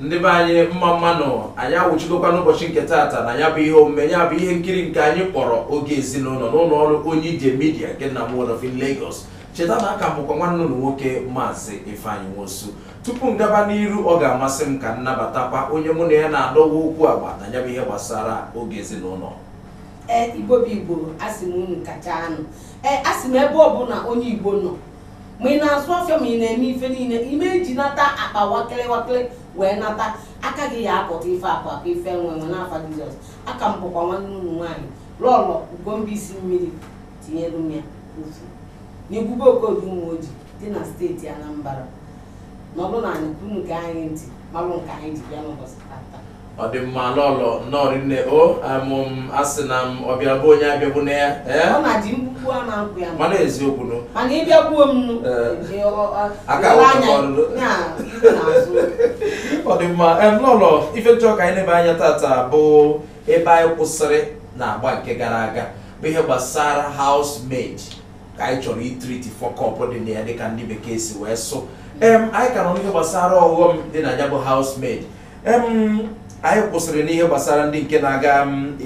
ndị be anyị mma mma nụ anyị awụchigokwa n'ụbọchị nke taata na ya bụ ihe omume ya bụ ihe nkiri nke anyị kpọrọ oge ezinụlọ n'ụlọ ọrụ onye ije media nke n'Amuwo Odofin Lagos cheta na aka m bụkwa nwanne unu nwoke maazị Ifeanyi Nwosu tupu m gaba n'iru ọ ga-amasị m ka m nabatakwa onye mụ na ya na-adọwa okwu agba na ya bụ ihe gbasara oge ezinụlọ ee igbo bụ igbo asị m unu kacha anụ ee asị m ebe ọbụla onye igbo nọ ma ị na-azụ afịa ma ị na-eme ife niile ime iji nata akpa wakịrị wakịrị wee nata aka gị ya apụta ife akụ akụ ife enwe enwe n'afa jizọs aka m bụkwa nwanne unu nwaanyị lọlọ ugombisi mmiri tinyere m ya ofu n'igwulube okodu Umuoji dị na steeti anambra nọlụ n'anị ka unu gee anyị ntị malụ nke anyị ji bịa n'ụbọchị tata ọ dị mma lọlọ nnọọ rinne o amụm asị na m ọbịa be onye abịagbuna ya ee ọ naje mkpukpu ana-apụ ya mana eziokwu nụ mana ị bịagbuo m nụ Ee. ee, ọ- ọ- Aka ele anya, awụtụkwa ọnụ. ya, ihu n'azụ. ọ dị mma em, lọlọ ife m chọ ka anyị nebe anya tata bụ ebe anyị kwụsịrị n'agba nke gara aga bụ ihe gbasara housemaid ka anyị chọrọ ịtreat fuck up dị na ya dịka ndị bekee si wee sụ em anyị ka nọ n'ihe gbasara ọghọm dị na ya bụ housemaid anyị kwụsịrị n'ihe gbasara ndị nke na-aga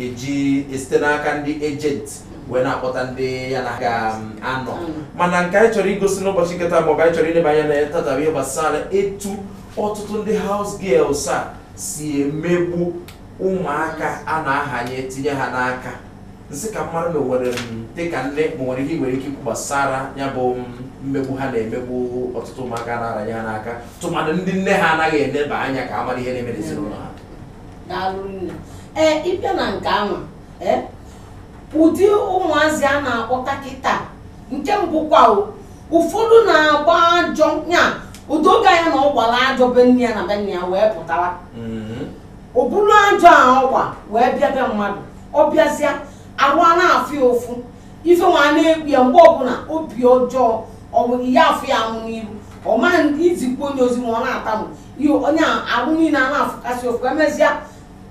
eji esite n'aka ndị agent wee na-akpọta ndị ya na ha ga-anọ mm. mana nke anyị chọrọ igosi n'ụbọchị nke taa maọbụ anyị chọrọ ileba anya na ya tata bụ ihe gbasara etu ọtụtụ ndị house girls a si emegbu ụmụaka a na-ahanye tinye ha n'aka m sị ka m mara ma o nwere dịka nne ma o nwere ihe i nwere ike ikwu gbasara ya bụ mmegbu ha na-emegbu ọtụtụ ụmụaka a na-aranye ha n'aka tụmadụ ndị nne ha anaghị eneba anya ka ha mara ihe na-eme n'ezinụlọ ha daalụ nne ee ịbịa na nke anwa ee ụdị ụmụazị a na-akpọta kịta nke mbụ kwa o, ụfọdụ na-agba ajọ ya ụdị oge anya na ọ gbara ajọ be nne ya na be nna ya wee pụtara Mhm. o buru ajọ a ọ gba wee bịa be mmadụ ọ bịazịa arụ ana-afụ ya ụfụ ife nwa na-ekpu ya mgbe ọbụla obi ọjọọ ị ya-afụ ya amụ n'iru ọ ma i zikwanụ ya ozi ma ọ na-atamu ihe onye a arụ niile ana-afụkasị ụfụ emezịa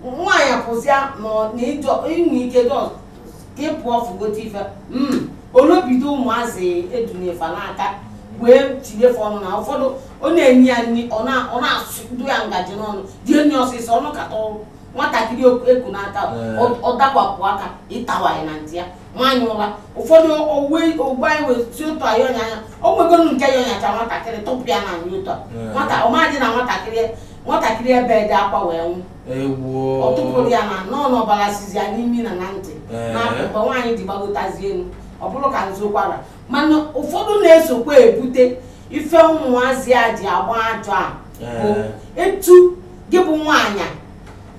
nwaanyị apụzịa na na ịjọ inwe ike jọ ịpụọ fụgote ife mm, olobido ụmụazị e dunye fa n'aka wee tinyefe ọnụ na ụfọdụ ọ na-enye ya nri ọ na- ọ na-asụdo ya ngaji n'ọnụ dị enyi ọsịsọ ọnụ kata ọrụ nwatakịrị oku- eku n'aka Ee. ọ- ọ dakwapụ aka ịtawa ya na ntị ya nwaanyị ụra ụfọdụ ogbe ogbe anyị wee si otu anyị ọnya anya o nwegoro nke ya ọ nyacha nwatakịrị tụpụ ya n'anị otu a Ee. nwata ọ madị na nwatakịrị nwatakịrị ebedi akwa wee nwụ ọ tụpụrụ ya na nọọ na ọbara sizi ya n'imi na na ntị eh. na akpụkpọ nwaanyị ji gbagotazi elu ọ bụrụ ka nzokwara mana ụfọdụ na-esokwa ebute ife ụmụazị a ji agba ajọ a eh. bụ etu gị bụ nwaanyị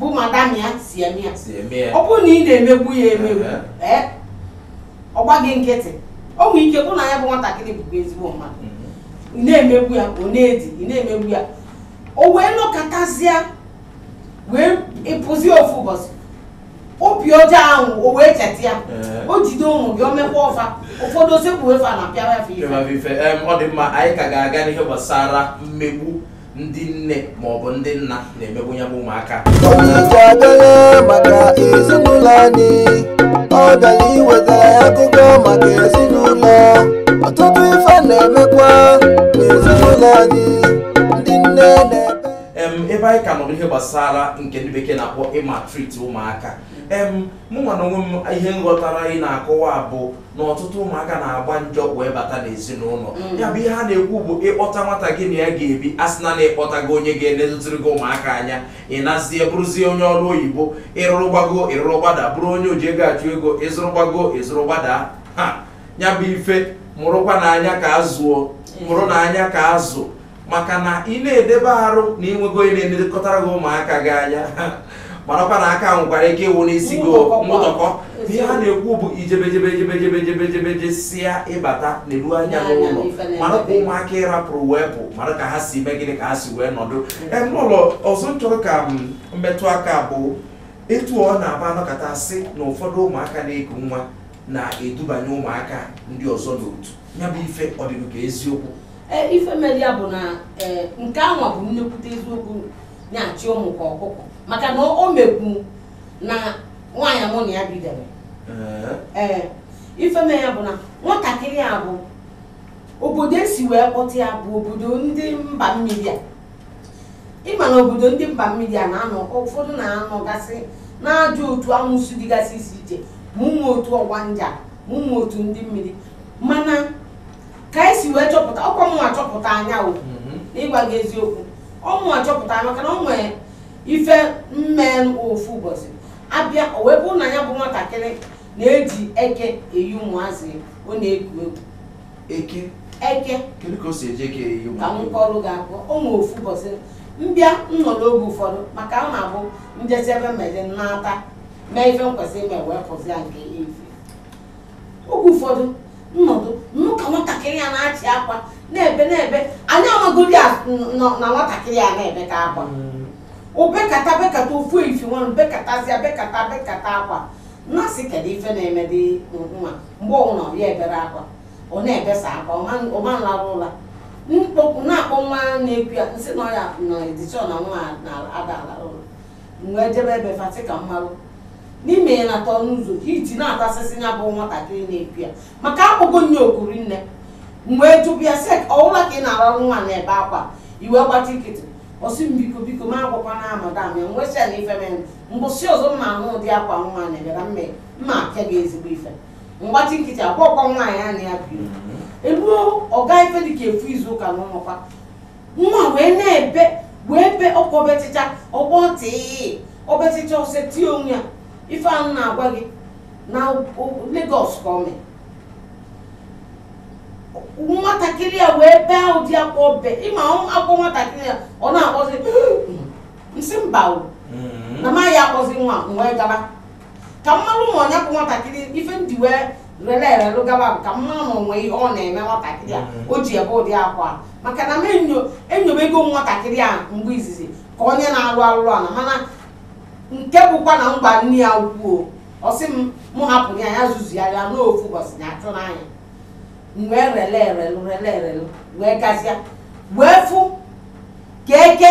bụ madam ya si eme ya ọ bụrụ na ị na-emegbu ya emegbu eh. ọ gbaa gị nkịtị o nwere ike bụ na ya bụ nwatakịrị bụkwa ezigbo mmadụ mm-hmm. ị na-emegbu ya ọ na-edi ị na-emegbu ya o wee nọkatazịa wee ị pụzie ofu ụbọchị obi ọjọọ ahụ o wee cheta ya Ee. o jide ụmụ gị o mekwa ọfa ụfọdụ o sekpue fa a na-apịawa fa ife Ịma ife em, ọ dị mma anyị ka ga-aga n'ihe gbasara mmegbu ndị nne maọbụ ndị nna na-emegbu ya bụ ụmụaka Onyeisi abịala maka ezinụlọ anyị ọ bịara iwetara ya akụkọ maka ezinụlọ ọtụtụ ife na-emekwa n'ezinụlọ anyị ndị nne na-ebe em ebe anyị ka nọrọ ihe gbasara nke ndị bekee na-akpọ ịmaltreat ụmụaka em mụ nwa na onwe m ihe m ghọtara anyị na-akọwa bụ na ọtụtụ ụmụaka na-agba njọ wee bata n'ezinụlọ mm. ya bụ ihe a na-ekwu bụ ịkpọta nwata gị na ya ga-ebi a sị na na ị kpọtago onye ga-elezụtiri gị ụmụaka anya ị nazie bụrụzie onye ọrụ oyibo ị rụrụ gbago ị rụrụ gbada bụrụ onye o ji ego achụ ego ị zụrụ gbago ị zụrụ gbada ha ya bụ ife mụrụkwa n'anya ka azụ o mụrụ n'anya ka azụ maka na ị na-edebe arụ na i nwego onye na-elekọtara gị ụmụaka gị anya marakwa na aka nwekwara ike ịwụ n'isi gị mụtọkọ ihe a na-ekwu bụ i jebe jebe jebe si ya bata neluo anya n'ụlọ mara ka ụmụaka ị rapụrụ wee pụ mara ka ha si mee gịnị ka ha si wee nọdụ n'ụlọ ọzọ m chọrọ ka m metụ aka bụ etu ọ na-abụ a nọkata sị na ụfọdụ ụmụaka na-eku nwa na-edubanye ụmụaka ndị ọzọ n'otu ya bụ ife ọ dịgo ka eziokwu Ee, ife mere ya bụ na ee, nke anwa bụ nnekwute eziokwu na-achị ụmụ ka ọkụkọ maka na o mekwu na nwaanyị mụ na ya bidoro Ee, ee ife mere ya bụ na nwatakịrị a bụ obodo e si wee kpọta ya bụ obodo ndị mba mmiri a ị ma na obodo ndị mba mmiri a na-anọ ụfọdụ na-anọgasị n'ajọ otu amụsụ dịgasị iche iche ma ụmụ otu ọgbanje ma ụmụ otu ndị mmiri mana ka i si wee chọpụta ọ kwa mụwa chọpụta ya o mhm. na ịgwa gị eziokwu ọ mụwa chọpụta maka na o nwere ife mmee ofu ụbọchị abịa o wee bụrụ na ya bụ nwatakịrị na-eji eke eyi ụmụazị ọ na-eku egwu eke eke kedu ka o si eji eke eyi ụmụ ka m kọrụ gị akọ o nwere ofu ụbọchị m bịa nọ n'oge ụfọdụ maka ọ na-abụ m jesi ebe mmezi m nata mee ife m kwesịrị ime wee pụzia nke efi oge ụfọdụ m nọdụ nụ ka nwatakịrị ya na-achị akwa na-ebe na-ebe anyị amagodi ya n- nọ na nwatakịrị ya na-ebe ka akwa o bekata bekata ofu efi nwanụ bekatazịa bekata bekata akwa m na-asị kedu ife na-emedị nwa mgbe ọbụla ọ ya ebere akwa ọ na-ebesa akwa ọ ma- ọ ma alarụ ụla m kpọpụ na-akpọ nwa na-ekwu ya m sị na ọya na edishọn na nwa na-ada ala ụla m wee jebe ebe fa sị ka m malụ n'ime ya na-atọ ọnụ ụzọ ka iji na-atasịsị ya bụ nwatakịrị na-epi ya maka akpọgo nye okuri nne m wee jụba ya sị ka ọ wụ ụla ka ị na-ararụ nwa na-ebe akwa ị wee gbachi nkịtị ọ sị m biko biko m agwakwana madam ya m wee sị ya na ife mere mbọsị ọzọ m na-anụ ụdị akwa nwa na-ebe na mma mma apịa gị ezigbo ife m gbachi nkịtị agwarọkwa nwaanyị a na ya biri eruo ọ gaa ife dịka ofu izu ụka na ụmakwa nwa wee na-ebe wee be akwa o betịcha ọ gbatị o betịcha o setịa onwe ya ife ahụ m na-agwa gị na Lagos ka o mee nwatakịrị ya wee bee ụdị akwa o be ịma akwa nwatakịrị ya ọ na-akpọzi m sị mba na m aya akpọzi nwa m wee gaba ka m malụ ma ọ nya bụ nwatakịrị ife m ji wee rele erelụ gaba ka m malụ ma o nwe ihe ọ na-eme nwatakịrị a o ji ebe ụdị akwa maka na m enyo enyobego nwatakịrị a mgbe izizi ka onye na-alụ alụlụ ana mana nke bụkwa na m gwa nne ya ukwu ọ sị m mụ hapụ ya ya zuzigharịa n'ofu ụbọchị na achụ n'anya m wee rele erelụ rele erelụ wee gazia wee fụ ka eke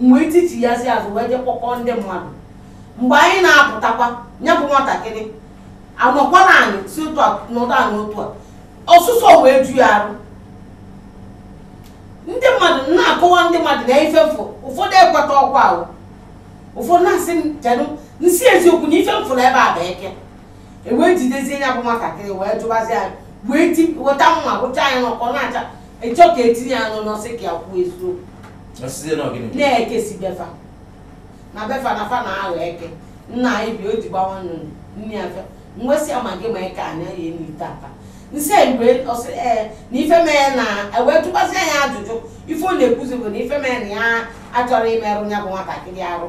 m wee tichie ya si azụ wee je kpọkọọ ndị mmadụ mgbe anyị na-apụtakwa ya bụ nwatakịrị anọkwara anyị si otu a n'ụdọ a na otu a ọsụsọ wee ju ya arụ ndị mmadụ na-akọwa ndị mmadụ na ife m fụ ụfọdụ ekwetarọkwa ụfọdụ na-asị m chedu m sị eziokwu na ife m fụ na ebe a bụ eke e wee jidezie ya bụ nwatakịrị wee jụbazie ya wee ti weta mma rụcha ya n'ọkụ ọ na-acha ịchọ ka etinye ya n'ọnụ sị ka ya kwuo eziokwu na eke si be fa na be fa na fa na-aghọ eke nna anyị bi o ji gbawa nnụnụ nne ya fe m wee sị ya ma gị ma eke anya ya enu ite apa m sị mgbe ọ sị ee na ife mee na e wee tụkwasị ya ajụjụ ife ọ na-ekwuzi bụ na ife mee na ya achọrọ imerụ ya bụ nwatakịrị arụ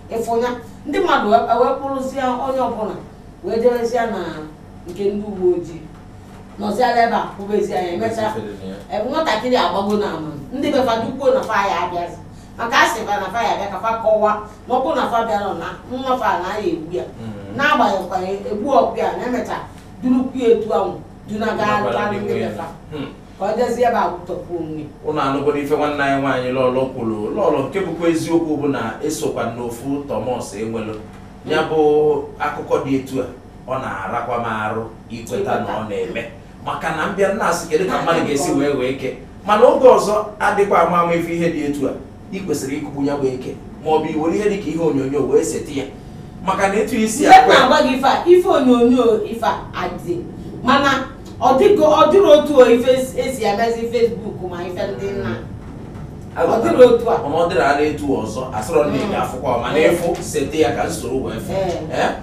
ị fụ nya ndị mmadụ wee kpụrụzie onye ọbụla wee jerezie na nke ndị uwe ojii nọziala ebe a kwụbezie ya emechaa nwatakịrị agbago na ama ndị be fa dukwuo na fa ya abịazi maka a sị fa na fa ya abịa ka fa kọwa na ọ bụ na fa abịarọ na nwa fa na ya egbu ya na agba ya ọkụ egbu ọkụ ya na emecha durukwu etu ahụ dunaga ndị be fa ka ọ jezie ebe akwụtọpụ onwe ụnụ anụgoro ife nwanne anyị nwaanyị lọlọ kwuru lọlọ nke bụkwa eziokwu bụ na esokwa m n'ofu Thomas enwelu ya bụ akụkọ dị etu a ọ na-arakwa m arụ ikweta na ọ na-eme maka na m bịa na-asị kedu ka mmadụ ga-esi wee wee eke mana oge ọzọ adịkwa ama ama ị fụ ihe dị etu a ị kwesịrị ịkụgbu ya bụ eke ma ọ bụ iwere ihe dịka ihe onyonyo wee seti ya maka na etu isi ya na-agwa gị ife a ife onyonyo ife adị mana ọ dịghị ọ dịrị otu ife esi emezi Facebook ma ife ndị nna ọ dịrị otu a ọ dịrị ara etu ọzọ asọrọ nne gị afụkwa ma na-efu seti ya ka m soro wee fụ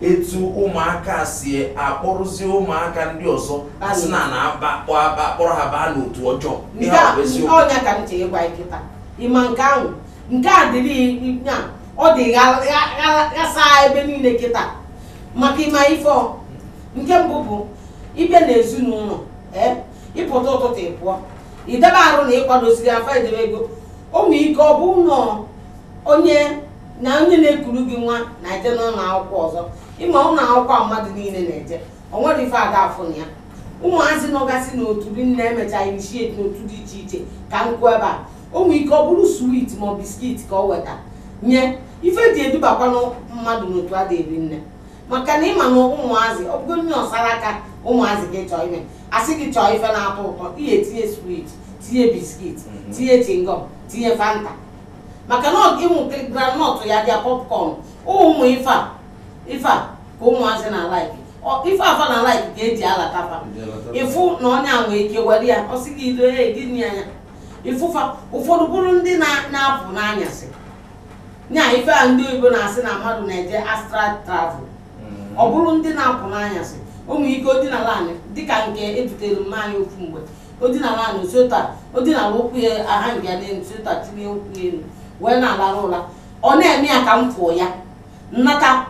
etu ụmụaka si akpọrọzi ụmụaka ndị ọzọ a sị na na akpọ akpa akpọrọ ha baa n'otu ọjọọ ihe a bụ eziokwu ọ nya ka m chọ ịgwa gị kịta ịma nke ahụ nke a dịrị ya ọ dị gha- gha- gha- ghasa ebe niile kịta maka ịma ife ọ. nke mbụ bụ ịbịa n'ezinụlọ ee ịpụta ụtụtụ ị pụọ idebe arụ na ịkwadosiri afa edebe ego o nwee ike ọ bụ nọ onye na onye na-ekuru gị nwa na-eje n'ụlọ akwụkwọ ọzọ ịma ụlọ akwụkwọ a mmadụ niile na-eje o nwere ife ada afụ na ya ụmụazị nọgasị n'otu ndị na-emecha initiate n'otu dị iche iche ka nkụ ebe a o nwee ike ọ bụrụ sweet ma ọ biscuit ka ọ weta nye ife eji edubakwanụ mmadụ n'otu a dị erinne maka na ịma na ụmụazị ọ bụgo nne ọsara aka ụmụazị gị chọọ ime asị gị chọọ ife na-atọ ụtọ ihe tinye sweet tinye biscuit tinye chingọm tinye fanta maka na ọ- ụmụ kịrị groundnut ya bịa popcorn ụmụ ife a ife a ka ụmụazị na-like ife fa na-like ka eji alata fa ịfụ na onye a nwee ike were ya ọ sị gị ido ya egini anya ị fụ fa ụfọdụ bụrụ ndị na- na-apụ n'anyasị nya ife a ndị oyibo na-asị na mmadụ na-eje astral travel ọ bụrụ ndị na-apụ n'anyasị o nwee ike o dinala anị dịka nke edutere mma anyị ofu mgbe o dinara ala otu ụta o dinara ụkwụ ya aha nga n'elu otu ụta tinye ụkwụ ya elu wee na-alarụ ụla ọ na-eme ya ka m fụọ ya m nata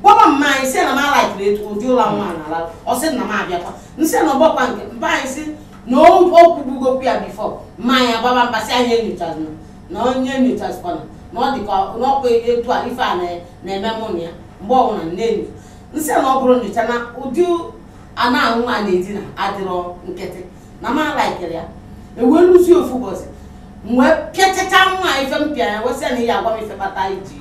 gwaba mma anyị sị na m alaikirọ etu ụdị ụla nwa a na-ala ọ sị na m abịakwa m sị na ọ gbakwa nke mma anyị sị na ọ kụgbugokwa ya before mma anyị agbaba mba sị anyị enyochazina na onye enyochazikwana na ọ dịka n'ọkwa etu a ife a na- na-eme mụ na ya mgbe ọbụla m na-enyo m sị na ọ bụrọ nyocha na ụdị a nwa a na-edina adịrọ nkịtị na m alaikirọ ya e wee luzie ofu ụbọchị m wee pịachacha nwa a ife m pịa ya wee sị ya nya gwa m ife kpata iji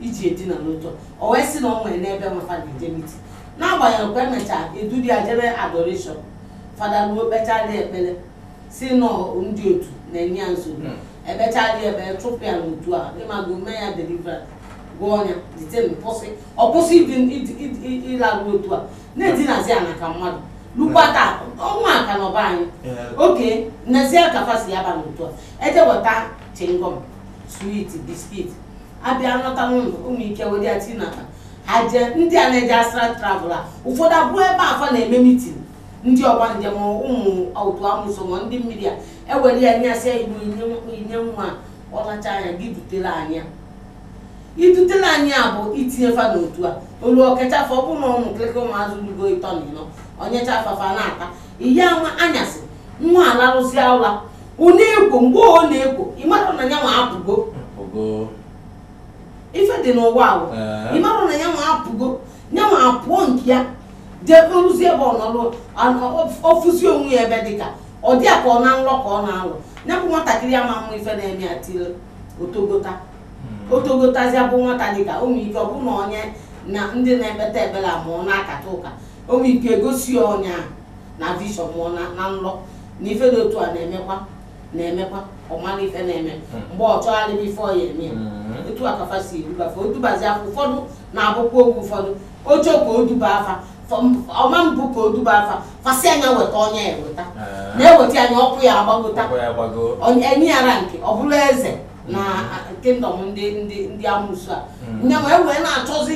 iji edina etu a o wee sị na o nwere n'ebe nwafa na-eje meeting n'agbanyeghị kwa emechaa edulu ya jebe adoration fada ruo kpechaalị ekpere sị na ọ ndị otu na-enye ya nsogbu ekpechaalị ekpere chụpụ ya n'otu a ịmago mee ya deliverance gụọ ọnya dite mpụsị ọ kwụsị ịdị ịdị- ịdị- ịdị- ịlarụ otu a na-edinazi ana ka mmadụ lukwata ọnwa aka na ọba anyị oke nnezie ka fa si aba n'otu a eje weta chingom sweet biskit abịa nọta n'ụlọ o nwee ike were ya tii n'akpa ha jee ndị a na-eje astral travel a ụfọdụ abụọ ebe fa na-eme mitin ndị ọgbanje mụọ otu amụsụ mụọ ndị mmiri a ewere ya n'anyasị a igbo inye nwa a, ọ lacha nya gị dutela nya idutela ya bụ itinye fa n'otu a olu ọkachasị ọ bụrụ na ụmụ nkịlịka ụmụazị lugo ịtọ na ịnọ o nyecha fa fa na-ata ihe nwa anyasị nwa a larụsịa ụra ọ na-ekwo mgbe ọ na-ekwo ịmara na ya nwa apụgo ife dị n'ụwa ahụ Ee. ịmara na ya nwa apụgo ya nwa apụọ nke ya jee rụzi ebe ọ nọrụ ọ fụzi onwe ya ebe dịka ọ dị ya ka ọ na nrọ ka ọ na-alọ ya bụ nwatakịrị amama ife na-eme ya tiri o togota hmm. o togotazi ya bụ nwata dịka o nwee ike ọ bụrụ na onye na ndị na-ekpeta ekpere a mụọ na-akata ụka o nwee ike egosi ya ọ nya na vishọn mụọ na nlọ na ife dị otu a na-emekwa na-emekwa ọ mara ife na-eme hmm. mgbe ọ chọgharịba ife ọ ya eme hmm. otu a ka fa si eduba fa o dubazia fa ụfọdụ na-abụkwa oge ụfọdụ o che ka o duba fa ọma mbụ ka o duba fa fa sị nya weta onye eweta na-eweta nya ọkwa ya agbagota enye ya rank ọ bụrụ eze na kingdom ndị ndị ndị amụsụ a hmm. nya nwa ewee na-achọzi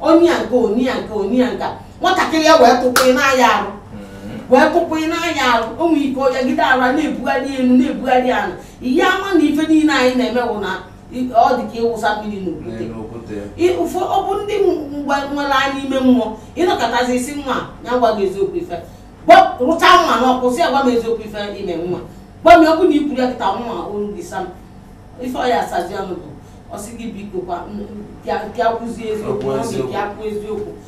onye ya nke onye ya nke onye ya nke nwatakịrị ya wee tụkwụ n'anya arụ hmm. wee tụkwụ n'anya arụ o nwere ike ọ jagide ara na-ebugharị elu na-ebugharị ala ị ya ama na ife niile anyị na-eme bụ na ọ dị ka ịwụsa mmiri n'okwute n'okwute I- ụfọ ọ bụ ndị nwere anya ime mmụọ ị nọkatazi ị sị nwa a gwa m eziokwu ife Gwa- rụcha nwa na ọkụ sị ya gwa m eziokwu ife i me nwa gwa m ọ bụ na i kwuru ya kịta nwa olu gị sam ife ọ ya asazi ọnụ bụ ọ sị gị biko kwa ka ya kwuzie eziokwu Okwu ọ eziokwu. ka ya kwu eziokwu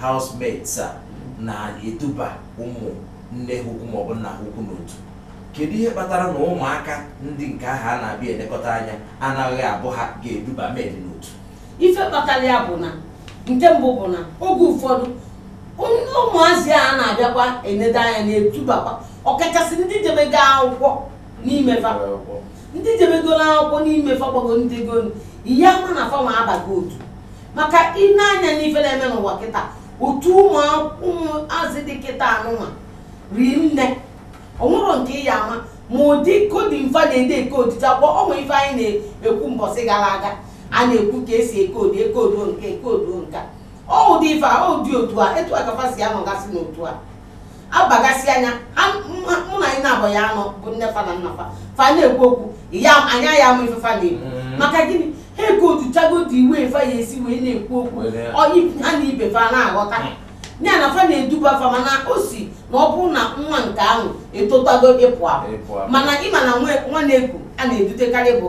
housemaids a na-eduba ụmụ nne ha ukwu maọbụ nna ha ukwu n'otu kedu ihe kpatara na ụmụaka ndị nke ahụ a na-abịa elekọta anya anaghị abụ ha ga-eduba maid n'otu ife kpatara ya bụ na nke mbụ bụ na oge ụfọdụ ụmụazị a na-abịakwa enedo anya na-edubakwa ọkachasị ndị jebego akwụkwọ n'ime fa ndị jebegoro akwụkwọ n'ime fa gbago ndị gonu ị ya ama na fa nwa abago otu maka i nee anya n'ife na-eme n'ụwa kịta otu ụmụazị dị kịta anụnwa rie nne onwero nke ị ya ama ma ụdị code fa na-ede e code ya kpọ ọ nwa ife anyị na-ekwu mbọsị gara aga a na-ekwu ka esi ecode ecode nke ecode nka ọ ụdị ife a ụdị otu a etu a ka fa si anọgasị n'otu a abagasị anya ha- mụ- mụ na anyị naabọ ya anọ bụ nne fa na nna fa fa na-ekwu okwu ya anya ya ama ife fa na-ekwu Mm. maka gịnị ha eke otu chago otu iwe fa ya esi wee na-ekwu okwu Were ya. Ọ- ha na ibe fa na-aghọta ya na fa na-eduba fa mana o si na ọ bụrụ na nwa nke ahụ etotago ịpụ apụ Ịpụ apụ. mana ịma na nwa- nwa na-eku a na-edutekarị bụ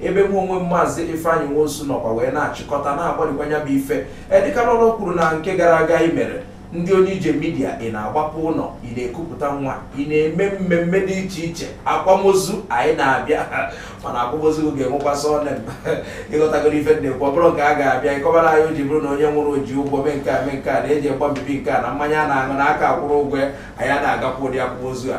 ebe mụ onwe m maazị Ifeanyị Nwosu nọkwa wee na-achịkọta na-agbalịkwa ya bụ ife edịka lọlọ kwuru na nke gara aga i mere ndị onye ije midia ị na-agbapụ ụnọ ị na-ekupụta nwa ị na-eme mmemme dị iche iche akwamozu anyị na-abịa mana akwamozu ga-enwekwa sọnem ịghọtagoro ife m na-ekwu ọ bụrọ nke a ga-abịa ịkọbara anyị o ji bụrụ na onye nwụrụ ji ụgwọ mee nke a mee nke a na-eji agba mbibi nke a na mmanya a na-aṅụ na aka akwụrọ ụgwọ ya anyị a na-agakwa ụdị akwamozu a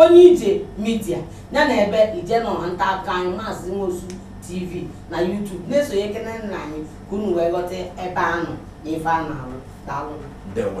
onye ije midia ya na ebe ije nọ na nta akụkọ anyị maazị nwosu tv na youtube na-esonyekenenụ anyị ka unu wee ghọta ebe a nọ na ife a na-arụ daalụ ndewo